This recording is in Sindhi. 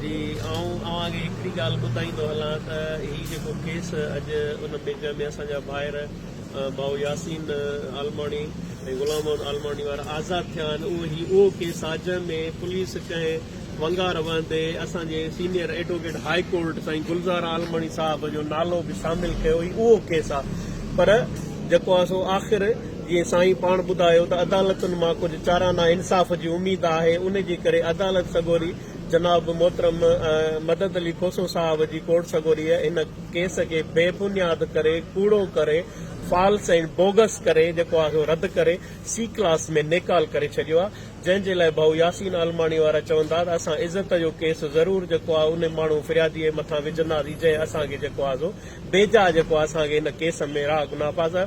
جي آئون اوهان کي هڪڙي ڳالهه ٻڌائيندو هلان ته هي جيڪو ڪيس اڄ ان ميڊيا ۾ اسان جا ڀائر ڀائو ياسين عالماڻي ۽ غلام محمد عالماڻي وارا آزاد ٿيا آهن اهو هي اهو ڪيس آهي جنهن ۾ پوليس ڪنهن ونگار وهندي اسان جي سينئر ايڊووڪيٽ هاء ڪورٽ سائين گلزار عالماڻي صاحب جو نالو به شامل ڪيو هي اهو ڪيس آهي پر جيڪو آهي سو آخر جيئن سائين پاڻ ٻڌايو ته عدالتن مان ڪجهه چارا نا انصاف جي اميد آهي ان جي ڪري عدالت سڳوري جناب محترم مدد علي کوسو صاحب جي ڪورٽ سڳوري هن ڪيس کي بي بنياد ڪري ڪوڙو ڪري فالس ۽ بوگس ڪري جيڪو آهي سو رد ڪري سي ڪلاس ۾ نيڪال ڪري ڇڏيو آهي جنهن جي لاء ڀائو ياسين عالماڻي وارا چوندا ته اسان عزت جو ڪيس ضرور جيڪو آهي ان ماڻهو فريادي مٿان وجهنداسين جنهن اسان کي جيڪو آهي سو بيجا جيڪو آهي اسان کي هن ڪيس ۾ راهه گناهه پاسا